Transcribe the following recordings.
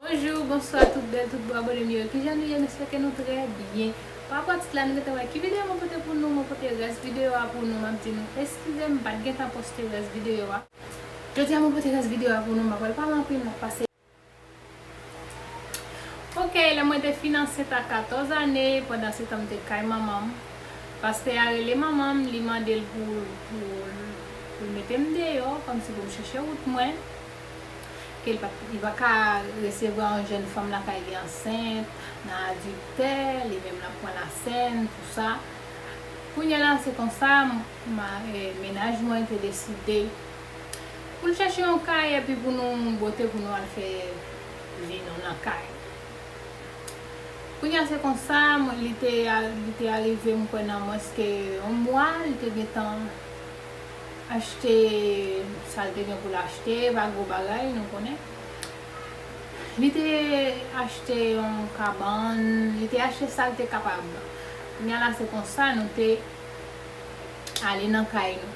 Bonjou, bonswa tout bèl, tout bo abone m yo, kijan nou ye m espeke nou trè byen. Pa rapò tit la nou gentan wè ki videyo mwen pote pou nou, mwen pote rès videyo a pou nou, map di nou eskize m, m pat gentan poste rès videyo a. Jodi a mwen pote rès videyo a pou nou, m pa pral pale anpil, map pase. Ok, lè mwen te fin ansent a 14 ane, pandan se tan m te kay manman m, pastè a rele manman m, li mande l pou l mete m deyò, kòmsi pou m chèche wout mwen, ke l pa ka resevwa yon jèn fanm lakay li ansent, nan adiltè, li menm l ap pran lasen, tou sa. Kounyela se konsa mennaj mwen te deside. Pou n chèche yon kay epi pou nou bote pou nou al fè vi nou nan kay. Kounye a se konsa li te li te arive m kwè nan mwens ke yon mwa li te gentan achte sa l te gen pou l achte e pa gwo bagay nou konnen. Li te achte yon kabann, li te achte sa l te kapab. Kounye a la se konsa nou te ale nan kay nou.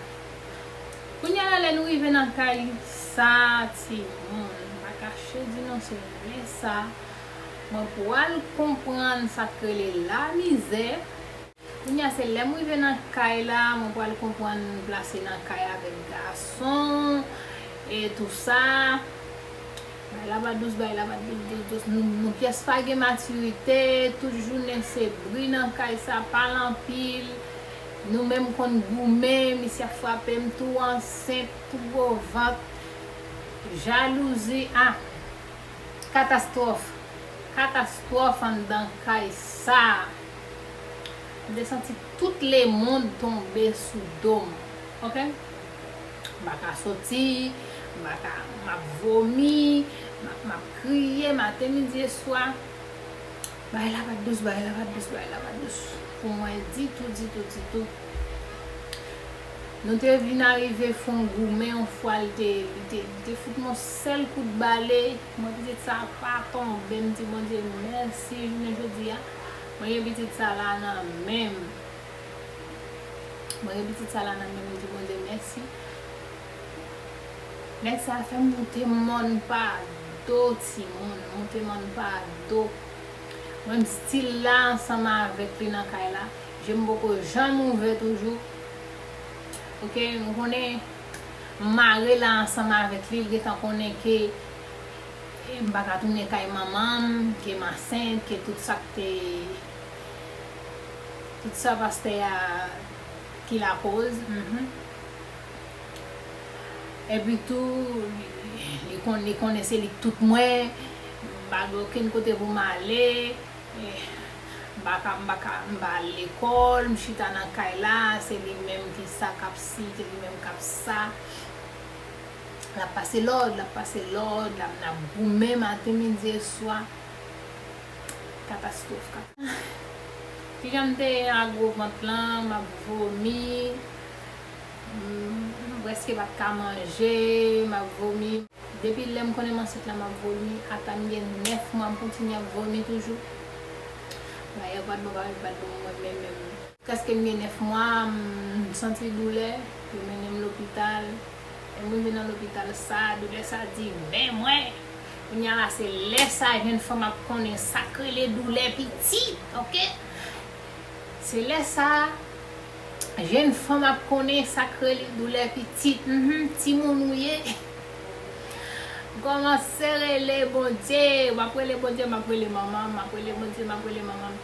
Kounya la lè nou rive nan kay sa ti moun m pa kache di nou se lè sa mwen pral konprann sak rele lamizè kounya se lèm rive nan kay la mwen pral konprann m plase nan kay avèk gason e tou sa bay la pa dous bay la pa dous dous dous nou pyès pa gen matirite tout jounen se bri nan kay sa pale anpil. Nou menm konn goumen misye ap frapem tou ansent tou gwo vant jalouzi ah katastwòf katastwòf anndan kay sa m te santi tout lemond tonbe sou dom ok m pa ka soti m pa ka map vomi map map kriye maten midi e swa. Bagay la pa t dous, bagay la pa t dous, bagay la pa t dous pou mwen ditou, ditou, ditou. Nou te vin arive fè yon goumen yon fwa li te, li te, li te fout m yon sèl kout bale, mwen pitit sa a pa tonbe, m di Bondye mèsi jounen jodi a, mwen gen pitit sa la nan men m. Mwen gen pitit sa la nan men m, m di Bondye mèsi. Nèg sa fèm moute mòn pa do timoun moute mòn pa do mwen m stil la ansanm avèk li nan kay la je m poko janm ouvè toujou ok m konnen m mare la ansanm avèk li l gentan konnen ke m paka tounen kay manman m ke m ansent ke tout sa k te tout sa pastè a ki lakoz humm. Epi tou li konnen se li k tout mwen, m pa gen okenn kote pou m ale, m pa ka m pa ka m pa al lekòl, m chita nan kay la, se li menm ki sa k ap si, se li menm k ap sa. L ap pase lòd, l ap pase lòd, la n ap goumen maten, midi e swa. Katastwòf, katastwòf. Kijan m te ye a gwo vant lan, m ap vomi. M preske pat ka manje, map vomi. Depi lè m konnen m ansent la map vomi. Ata m gen 9 mwa m kontinye ap vomi toujou. Bagay yo pat bon bagay yo pat bon mwen menm menm. Preske m gen 9 mwa m santi doulè, yo mennen m lopital. Lè m rive nan lopital sa, doulè sa di men mwen. Kounya la se lè sa jenn fanm ap konnen sak rele doulè pitit ok. Se lè sa. Jenn fanm ap konnen sak rele doulè pitit mph timoun ou ye ou kòmanse rele Bondye map rele Bondye map rele manman map rele Bondye map rele manman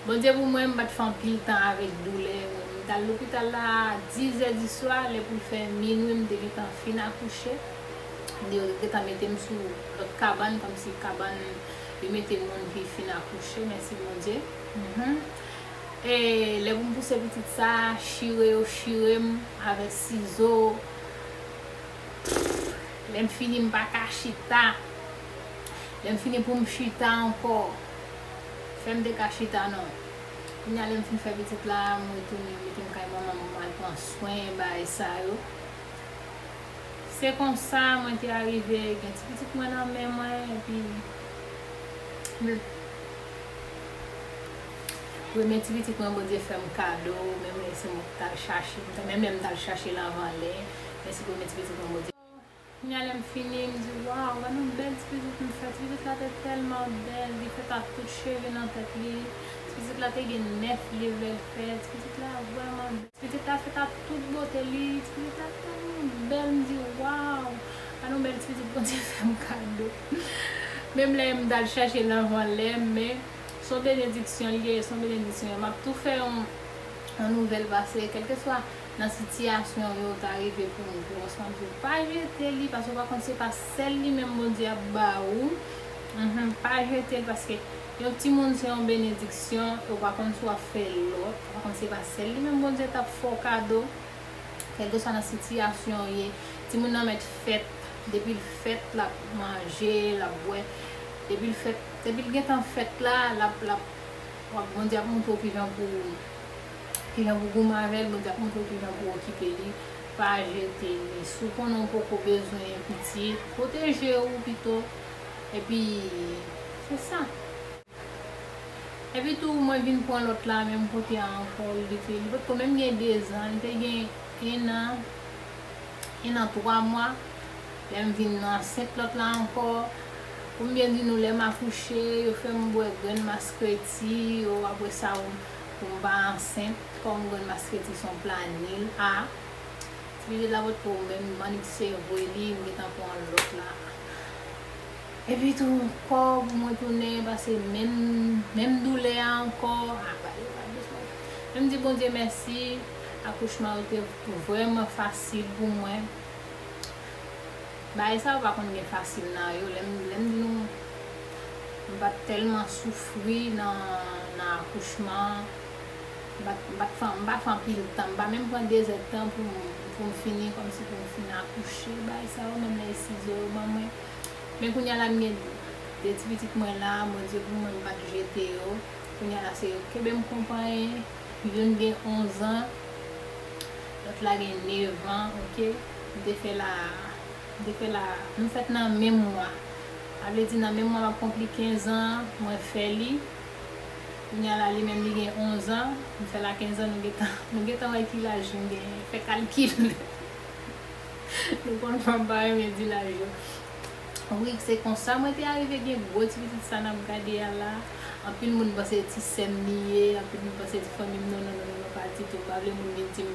Bondye pou mwen mpat fè anpil tan avèk doulè mtal lopital la a 10 zè di swa lè poul fè minwi mte gentan fin akouche yo te gentan metem sou lòt kabann kòmsi kabann yo mete moun ki fin akouche mèsi Bondye mph. Eeh lè pou m pouse pitit sa chire yo chire m avèk sizo Pfff lè m fini m pa ka chita lè m fini pou m chita ankò fè m te ka chita non kounye a lè m fin fè pitit la m retounen m mete m kay manman m m al pran swen bagay sa yo se konsa mwen te arive gen ti pitit mwen nan men mwen epi m. Premye ti pitit mwen Bondye fèm kado menm lè se mwen ki tal chache menm lè m tal chachel anvan lè men se premye ti pitit mwen Bondye Kounya lèm fini m di waw gad yon bèl ti pitit m fè ti pitit la te tèlman bèl li fèt ak tout cheve nan tèt li ti pitit la te gen 9 level fè ti pitit la vrèman bèl ti pitit la fèt ak tout bote li ti pitit la tèlman bèl m di waw gad yon bèl ti pitit Bondye fèm kado. Menm lè m t al chèche l anvan lè m men s on benediksyon li ye s on benediksyon m ap tou fè yon nouvèl pase kèlkeswa nan sitiyasyon yo ta rive pou m pou ansanm di w pa jete li paske w pa konn se pa sèl li menm Bondye ap ba ou pa jete l paske yon timoun se yon benediksyon e w pa konn si w ap fè lòt ou pa konn se pa sèl li menm Bondye t ap fè w kado. Kèlkeswa nan sitiyasyon w ye, timoun nan mèt fèt, depi l fèt l ap manje, l ap bwè, depi l fèt, depi l gentan fèt la, l ap, l ap, wap, Bondye ap montre w kijan pou w, kijan pou w goumen avè l, Bondye ap montre w kijan pou w okipe li, pa jete li, si w konnen w poko bezwen pitit, pwoteje w pito, epi se sa. Epi tou mwen vin pran lòt la men m pote a ankò li te li potko menm gen 2 zan li te gen 1 an 1 an 3 mwa lè m vin ansent lòt la ankò pou m byen di nou lè m akouche yo fè m bwè grenn maskreti yo aprè sa ou pou m pa ansent kòm grenn maskreti son planil a ti pitit la potko menm m annik se vwe li m gentan pran lòt la. Epi tou kò pou mwen tounen pase menm menm doulè a ankò apa yo pa bezwen menm di Bondye mèsi akouchman yo te vrèman fasil pou mwen bagay sa yo pa konn gen fasil nan yo lèm lèm di nou m pat tèlman soufri nan nan akouchman an m pat m pat m pa fè anpil tan m pa menm pran dezèdtan poum poum fini kòmsi poum fin akouche bagay sa yo menm lè e sizo yo ban mwen. Men kounya la m gen 2 ti pitit mwen la, Bondye pou mwen m pa t jete yo, kounya la se yo k kenbe m konpayi, youn gen 11 an, lòt la gen 9 an ok, m te fè la, m te fè la, nou fèt nan menm mwa, sa vle di nan menm mwa m ap konpli 15 an an, mwen fè li, kounya la li menm li gen 11 an, m fè la 15 an nou gentan, nou gentan wè ki laj m genyen, fè kalkil. Nou konn fanm pa renmen di laj yo. Rik se konsa mwen te arive gen gwo ti pitit sa nap gade a la anpil moun panse se ti sèm li ye anpil moun panse se ti fanmim non non non non pa ditou mpa vle moun vin dim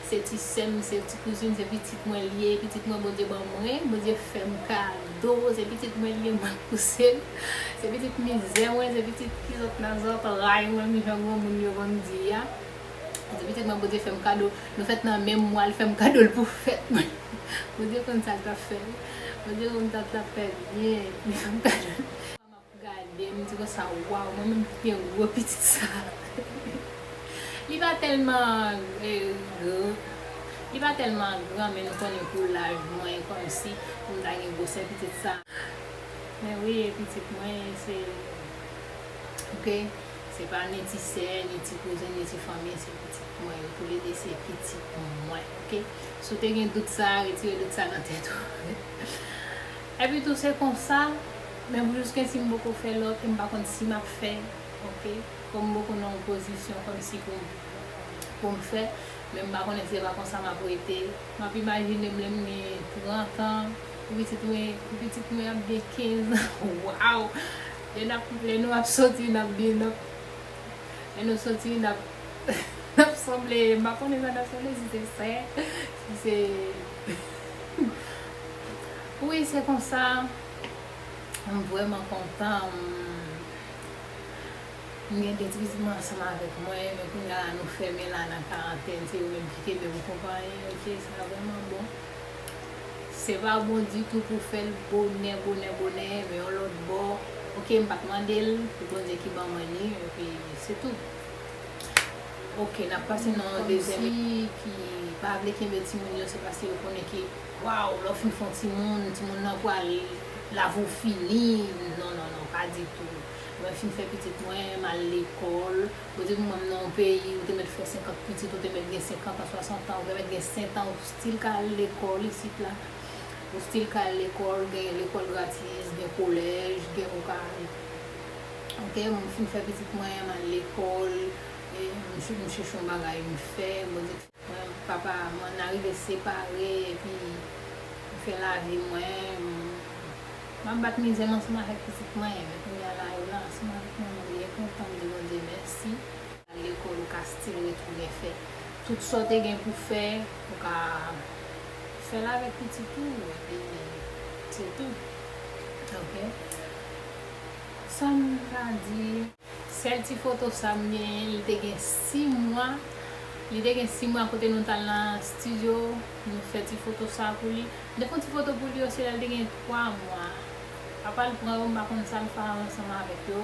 se ti sèm se ti kouzin se pitit mwen li ye pitit mwen Bondye ban mwen Bondye fèm kado se pitit mwen li ye map pousel se pitit mizè mwen se pitit kizòt nan zòt ray mwen jan granmoun yo konn di a. Depi tèt mwen Bondye fèm kado nou fèt nan menm mwa li fèm kado l pou fèt mwen Bondye konn sa l tap fè wi Bondye konn sa l tap fè byen li fèm kado l Chak fwa map gade m di konsa waw mwen menm ki gen gwo pitit sa li pa tèlman li pa tèlman gran men nou konnen pou laj mwen kòmsi pou m ta gen gwosè pitit sa men wi e pitit mwen se ok. Se pa ni ti sè, ni ti kouzin, ni ti fanmi, se pitit mwen yo, toule 2 se pitit mwen ok, si w te gen dout sa a retire dout sa nan tèt ou epi tou se konsa men pou jiskesi m poko fè lòt e m pa konn si m ap fè ok, kòm m poko nan yon pozisyon kòmsi pou m pou m fè, men m pa konnen si se pa konsa m ap rete, m ap imajine m lè m gen 30 an pou pitit mwen pou pitit mwen ap gen 15 ans waww. Lè nou ap soti n ap byen nòt lè nou soti n ap n ap sanble m pa konnen sa n ap sanble si se sè si se wi se konsa m vrèman kontan m gen 2 ti pitit mwen ansanm avèk mwen men kounya nou fèmen la nan karantèn se yo menm ki kenbe m konpayi ok sa vrèman bon. Se pa bon ditou pou fèl bonè bonè bonè men yon lòt bò ok m pat mandel pou Bondye ki ban mwen li epi se tou ok nap pase nan yon dezyèm etap moun ki pa vle kenbe timoun yo se paske yo konnen ke waw lè w fin fon timoun timoun nan pral lavi w fini non non non pa ditou mwen fin fè pitit mwen mal lekòl ou te vin wèm nan yon peyi ou te mèt fè 50 pitit ou te mèt gen 50 an 60 an ou te mèt gen 7 an ou Stil ka al lekòl isit la. Ou stil ka al lekòl, gen lekòl gratis, gen kolèj, gen ou ka al. Ok, mwen fin fè pitit mwen, m al lekòl, e m chèche yon bagay m fè, mwen di. Mwen, papa mwen, n a rive separe, epi m fè lavi mwen, m ap bat mizè m ansanm avèk pitit mwen, men kounya la yo la ansanm avèk mwen, mwen byen kontan, m di Bondye mèsi. Al lekòl ou ka still retounen fè tout sa w te gen pou fè, ou ka fè l avèk pitit ou epi se tou ok sa m ka di. Sèl ti foto sa m genyen li te gen 6 mwa li te gen 6 mwa kote nou t al nan studio nou fè ti foto sa pou li m te fon ti foto pou li yo se lè l te gen 3 mwa papa l pran yo m pa konn sa l fè ansanm avèk yo.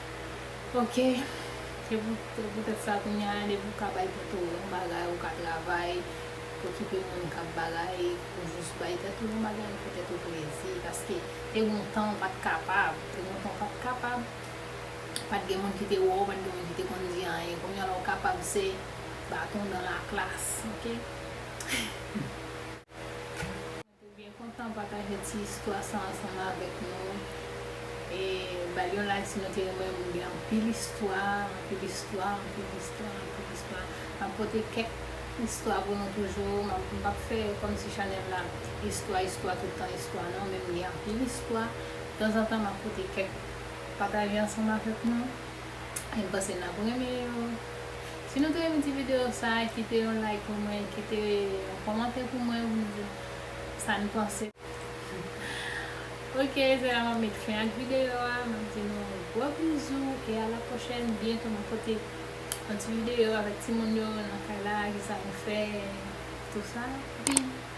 Ok se pou tèt sa kounya depi ou ka bay tèt ou yon bagay ou ka travay okipe moun kap bagay ou jis bay tèt ou yon bagay fè tèt ou plezi paske te gon tan ou pat kapab te gon tan ou pat kapab pat gen moun ki te wè w pat gen moun ki te konn di anyen kounya la ou kapab se baton dan la klas ok. Ou byen kontan pataje ti istwa sa ansanm avèk nou e bal yon like si nou te renmen moun gen anpil istwa anpil istwa anpil istwa anpil istwa map pote kèk istwa pou nou toujou mpap fè kòmsi chanèl la istwa istwa tout tan istwa non men m gen anpil istwa tanzantan map pote kèk pataje ansanm avèk nou e m panse nap renmen yo. Si nou te renmen ti video sa kite yon like pou mwen kite yon komante pou mwen pou nou di sa nou panse. Ok se la map met fen ak video a map di nou yon gwo bizou e a la pwochèn byento map pote yon ti video avèk ti moun yo nan kay la kisa nou fè tou sa epi bye.